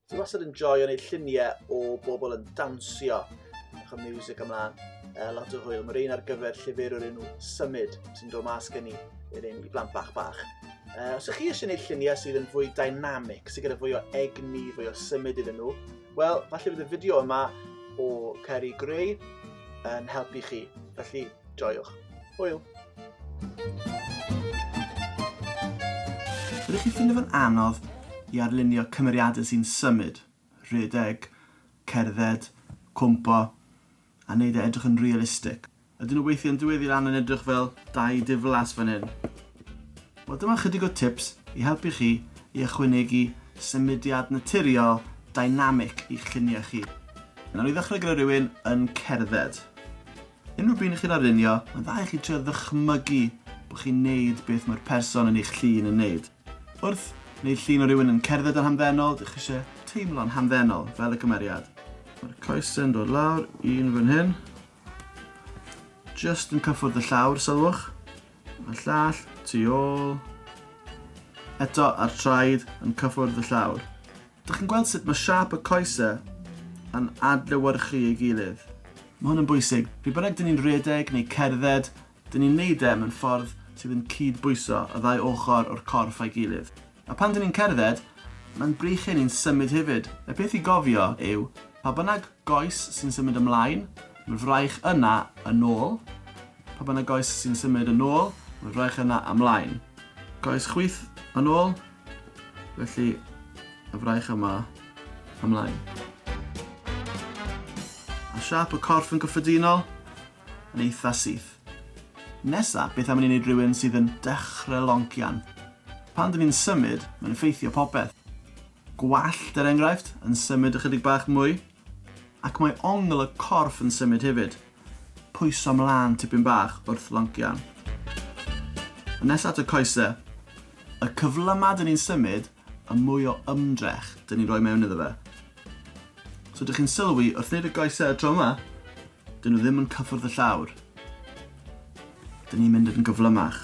Dwi wastad yn joio neud lluniau o bobl yn dansio. Ych o music ymlaen. Uh, lot o hwyl. Mae'r un ar gyfer llyfr o'r enw Symud sy'n dod mas gen i i'r un i blant bach bach. Uh, os ych chi eisiau gwneud lluniau sydd yn fwy dynamic, sydd gyda fwy o egni, fwy o symud iddyn nhw, wel, falle bydd y fideo yma o Ceri Grey yn helpu chi. Felly, joiwch. Hwyl. Ydych chi'n ffindo fo'n anodd i arlunio cymeriadau sy'n symud, rhedeg, cerdded, cwmpo, a wneud e edrych yn realistig? Ydyn nhw weithiau'n dwyd i lan yn edrych fel dau diflas fan hyn? Wel, dyma chydig o tips i helpu chi i ychwanegu symudiad naturiol, dynamic i'ch lluniau chi. Nawr i ddechrau gyda rhywun yn cerdded. Unrhyw bryd chi'n arlunio, mae'n dda i chi trio ddychmygu bod chi'n neud beth mae'r person yn eich llun yn neud. Wrth neud llun o rywun yn cerdded yn hamddenol, dych chi eisiau teimlo'n hamddenol, fel y cymeriad. Mae'r coesau'n dod lawr, un fan hyn. Just yn cyffwrdd y llawr, sylwch. A llall, tu ôl. Eto, a'r traed yn cyffwrdd y llawr. Dych chi'n gweld sut mae siâp y coesau yn adlewyrchu ei gilydd? Mae hwn yn bwysig, pryd bynnag dyn ni'n rhedeg neu cerdded, dyn ni'n neud e mewn ffordd sydd yn cyd-bwyso y ddau ochr o'r corff a'i gilydd. A pan dyn ni'n cerdded, mae'n brych i ni'n symud hefyd. Y peth i gofio yw, pa bynnag goes sy'n symud ymlaen, mae'n fraich yna yn ôl, pa bynnag goes sy'n symud yn ôl, mae'n fraich yna ymlaen. Coes chwith yn ôl, Felly, y fraich yma, ymlaen. A siap y corff yn gyffredinol, yn eitha syth. Nesa, beth am i ni wneud rhywun sydd yn dechrau loncian? Pan dyn ni'n symud, mae'n effeithio popeth. Gwallt, er enghraifft, yn symud ychydig bach mwy, Ac mae ongl y corff yn symud hefyd. Pwyso mlan tipyn bach wrth loncian. Yn nesa at y coese. Y cyfle ma dyn ni'n symud, y mwy o ymdrech dyn ni'n rhoi mewn iddo fe. So dych chi'n sylwi, wrth wneud y goese y tro yma, dyn nhw ddim yn cyffwrdd y llawr. Dyn ni'n mynd yn gyflymach.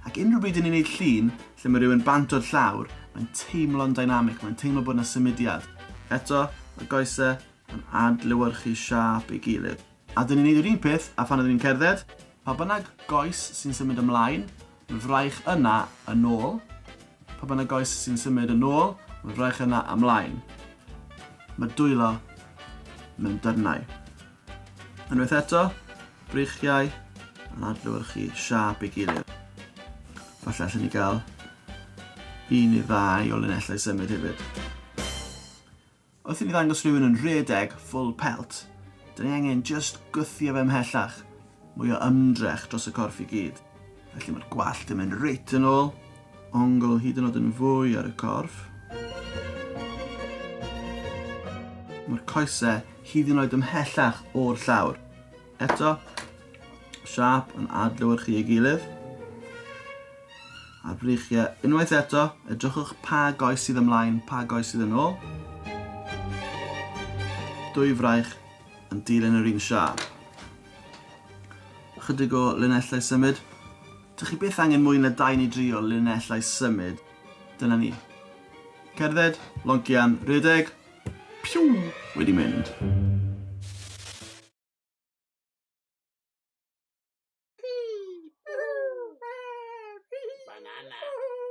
Ac unrhyw bryd yn ni'n neud llun lle mae rhywun bant o'r llawr, mae'n teimlo'n dynamic, mae'n teimlo bod yna symudiad. Eto, mae goesau yn adlewyrchu siâp ei gilydd. A dyn ni'n neud yr un peth a phan ydyn ni'n cerdded, pa bynnag goes sy'n symud ymlaen, mae'n fraich yna yn ôl, pa bynnag goes sy'n symud yn ôl, mae'n fraich yna ymlaen. Mae dwylo mewn dyrnau. Unwaith eto, breichiau yn adlewyrchu siâp ei gilydd. Falle allan ni gael un neu ddau o linellau symud hefyd. Wrth i ni ddangos rhywun yn rhedeg full pelt, dyn ni angen just gwthio fe ymhellach Mwy o ymdrech dros y corff i gyd. Felly mae'r gwallt yn mynd reit yn ôl, ongl hyd yn oed yn fwy ar y corff. Mae'r coesau hyd yn oed ymhellach o'r llawr. Eto, siâp yn adlewyrchu ei gilydd. A'r breichiau, unwaith eto, edrychwch pa goes sydd ymlaen, pa goes sydd yn ôl. Dwy fraich yn dilyn yr un siâp. Ychydig o linellau symud. Dych chi byth angen mwy na dau neu dri o linellau symud. Dyna ni. Cerdded, loncian, rhedeg. Piw! Wedi mynd. Banana.